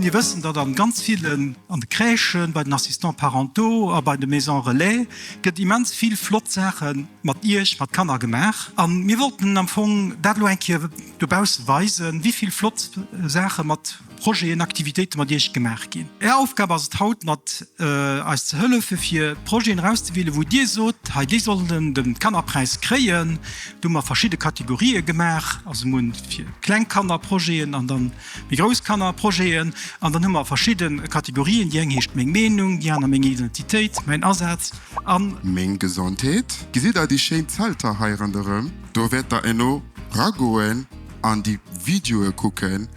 Mir wëssen, datt an ganz villen, an de Crèchen, bei den Assistants parentaux a bei de Maisons relais gëtt immens vill flott Saache mat Iech, mat Kanner gemaach. A mir wollten am Fong dat elo eng Kéier dobausse weisen, wéi vill flott Saache mat Projeten, Aktivitéiten mat Iech gemaach ginn. Är Aufgab ass et haut mat eis ze hëllefen fir Projeten erauszewielen wou Dir sot, hei déi sollen den Kannerpräis kréien. Do hu mer verschidde Kategorien gemaach, also mir hunn fir kleng Kanner Projeten an dann méi grouss Kanner Projeten an dann hu mer verschidde Kategorien, déi eng heescht Meng Meenung, déi aner Meng Identitéit, Mäin Asaz an. Meng Gesondheet. Gesitt der déi schéin Zelter hei ronderëm? Do wäert der elo ragoen. an déi Videoe kucken,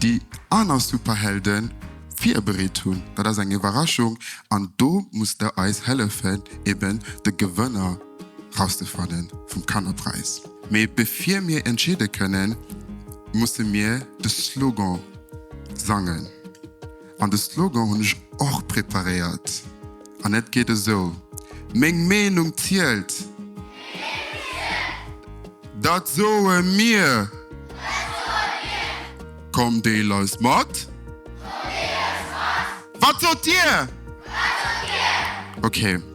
déi aner Superhelden virbereet hunn. Dat ass eng Iwwerraschung an do musst der eis hëllefen eben de Gewënner rauszefannen vum Kannerpräis. Mee bevir mir entscheede kënnen, musse mir de Slogan sangen. An de Slogan hunn ech och preparéiert an et geet esou, Meng Meenung zielt! Meng zielt! Dat soe mir! Dat soe mir! Komm deel eis mat! Komm deel eis mat! Wat sot dir? Wat sot dir? Ok.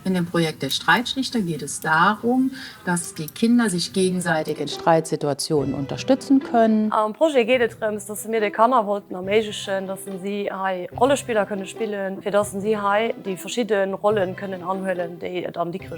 In dem Projekt Der Streitschlichter geht es darum, dass die Kinder sich gegenseitig in Streitsituationen unterstützen können. Am Projet geet et drëms, dass se mir de Kanner wollten erméiglechen, dass se si hei Rollespiller kënne spillen, fir dass se si hei déi verschidde Rollen kënnen anhuelen, déi et am Dikrech ginn.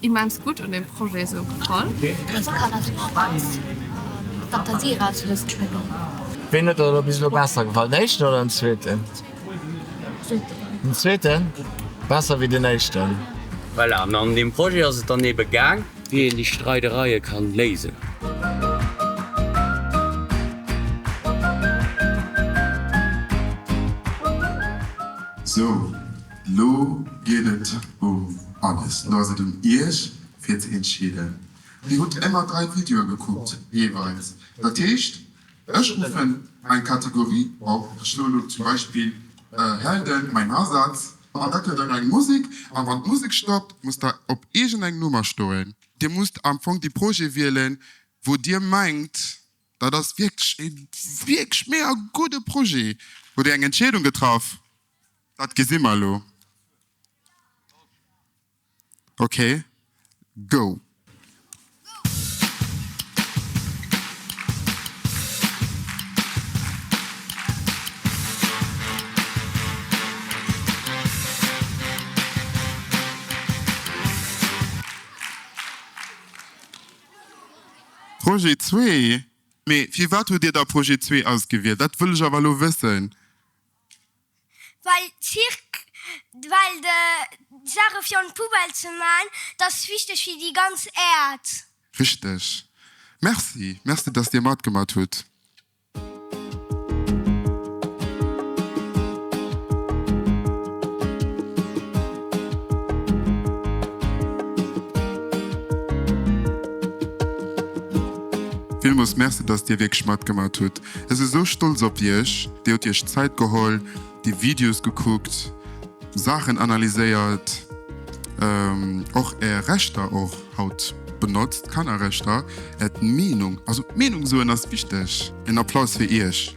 Immens gudd un dem Projet sou gefall. Dëst kann also och als Fantasie eraus lues geschwënn. Ween huet der bis elo besser gefall, den éischten oder den zweeten? Den zweeten? Besser wéi den éischten. Voilà, mä an deem Projet ass et dann ebe gaang, wéi een déi Streidereie kann léisen. Sou. Lo geet et um alles, lo ass et un iech fir ze entscheeden. Dir hutt émmer 3 Videoe gekuckt jeeweils, dat heescht ech ruffen eng Kategorie op, ech hu lo zum Beispill Helden, Mein Hasatz, an da kritt der eng Musek an wann d'Musek stoppt musst der op iergend eng Nummer stoen. Dir musst am Fong de Projet wielen wou dir mengt Dat ass wierklech ee wierklech mega gudde Projet. Hutt Dir eng Entscheedung getraff? Dat gesi mer elo. Ok, go! Projet zwee? Mee firwat hutt Dir da Projet zwee ausgewielt? Dat wëll ech awer elo wëssen. Well Zirk, well de Saache fir an d'Poubelle ze man, dat ass wichteg fir déi ganz Äerd. Richteg. Merci. Merci, dass Dir matgemat hutt. Villmols Merci dass dir wierklech matgemaat hutt. Ech si sou stolz op iech, dir hutt iech Zäit geholl déi Videos gekuckt, Saachen analyséiert, och Är Rechter och haut benotzt, Kannerrechter, Är Meenung, also Meenung soen ass wichteg. En Applaus fir Iech.